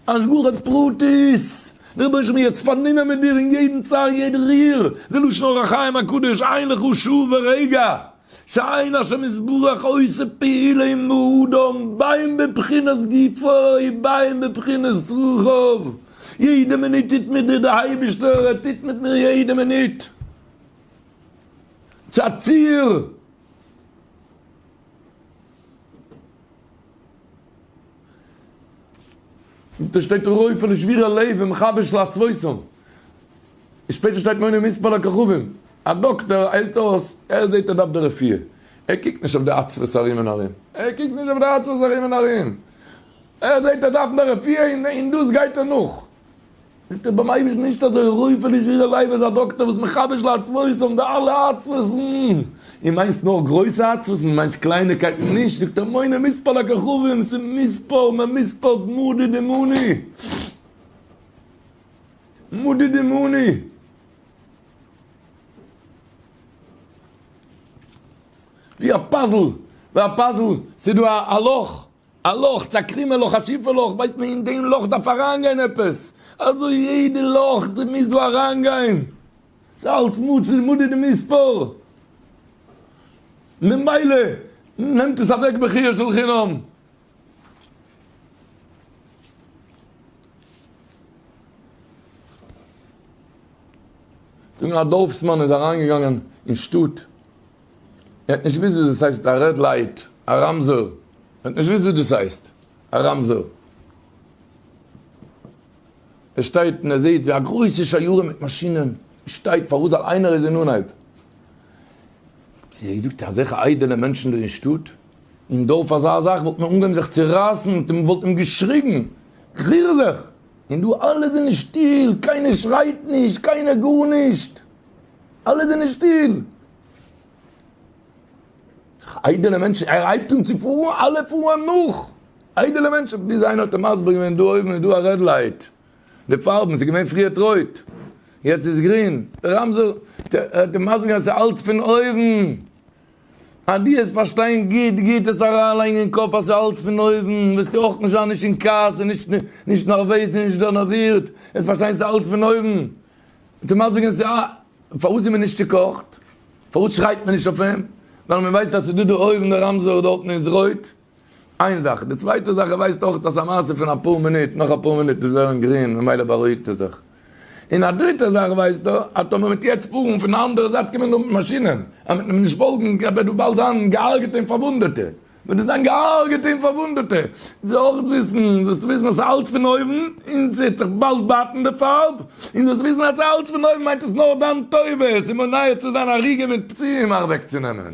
השגחה פרטית, דער רבי איז מיר יעצט פארנומען מיט דיר אין יעדן צער יעדן ריר, די לשון אור החיים הקדוש עיין לך שעה ורגע שעיין השם יתברך עושה פעולה עם האדם בין בבחינת גופו ובין בבחינת רוחו, יעדע מינוט טוט מיט דיר דער אייבערשטער, ער טוט מיט מיר יעדע מינוט צו א ציר. דא שטייט רוי פון שבירה לב ומחבר של עצבותם. און שפעטער שטייט מונה מספר לכוכבים. א דאקטאר היילט אויס, ער זעט ער דארף די רפואה. ער קוקט נישט אויף די עצבות ארום און ארום. ער קוקט נישט אויף די עצבות ארום און ארום. ער זעט ער דארף די רפואה און דאס גייט ער נאך. זאגט ער ביים אייבערשטן נישט אזוי רוי פון נישט וויאזוי לייב איז א דאקטער וואס מחדש לעצבות אויף די אלע עצבות'ן, און מיינסט נאר גרויסע עצבות און מיינסט קליינעקייטן נישט, זאגט ער מונה מספר לכוכבים, ס'איז מספר מען מספר'ט מדי דמני, מדי דמני. ווי א פאזל, ווי א פאזל, ס'איז דא א לאך, א לאך, צו א קרומע לאך, א שיפע לאך, ווייסט מען אין דעם לאך דארף אריינגיין עפעס, אזוי יעדע לאך די מוזט דא אריינגיין, ס'איז אלץ מצוי מדי דמספר, ממילא נעמט עס אוועק בחייה של חינם. זאגן א דארפסמאן איז אריינגעגאנגען אין שטאט. ער האט נישט געוואוסט וואס דאס הייסט א רעד לייט, א רמזור. ער האט נישט געוואוסט וואס דאס הייסט א רמזור. ער שטייט און ער זעט ווי א גרויסע שיירה מיט מאשינען שטייט פאר אזא איינער איז אין אנהייב. זאגט ער, אזעלכע איידעלע מענטשן דא אין שטאט, אין דארף אזא זאך וואלט מען אנגעהויבן זיך צו רייסן, און מען וואלט אים געשריגן, ריר זיך! און דא אלע זענען שטיל, קיינער שרייט נישט, קיינער גארנישט. אלע זענען שטיל. איידעלע מענטשן, ער הייבט אן צו פארן, אלע פארן נאך. איידעלע מענטשן, ביז איינער האט אים מסביר געווען, דא אויבן איז דא א רעד לייט, די פארבן, ס'איז געווען פריערט רויט, יעצט איז גרין, די רמזור, האט אים מסביר געווען, ס'איז אלץ פון אויבן. אז דו וועסט פארשטיין גוט גוט, עס אריינלייגן אין קאפ אז ס'איז אלץ פון אויבן, וועסטו אויך נישט זיין נישט אין כעס און נישט נערוועז און נישט דערנערווירט, וועסט פארשטיין ס'איז אלץ פון אויבן. צומאל זאגן זיי אה, פארוואס איז מען נישט צוקאכט? פארוואס שרייט מען נישט אויף אים? ווייל מען ווייסט אז ס'איז דא די אור און די רמזור דארט און איז רויט. איין זאך. די צווייטע זאך, ער ווייסט אויך אז א מעשה פון אפאר מינוט, נאך אפאר מינוט איז ווערן גרין, ממילא בארואיגט ער זיך. און א דריטע זאך ווייסט ער, אז טאמער מ'וועט יעצט פארן און פון די אנדערע זייט קומען דא מיט מאשינען, אז מ'וועט אים נישט פאלגן, וועט דא באלד זיין געהארגעטע און פארוואונדעטע. ווען דאס זיין געהארגעטע און פארוואונדעטע זאל אויך וויסן, זאלסטו וויסן אז ס'איז אלץ פון אויבן, און ס'וועט זיך באלד בייטן די פארב, און זאלסט וויסן אז אלץ פון אויבן מיינט עס נאר דיין טובה, עס איז מונע צו זיין הרוגים מיט פצועים אוועקצונעמען.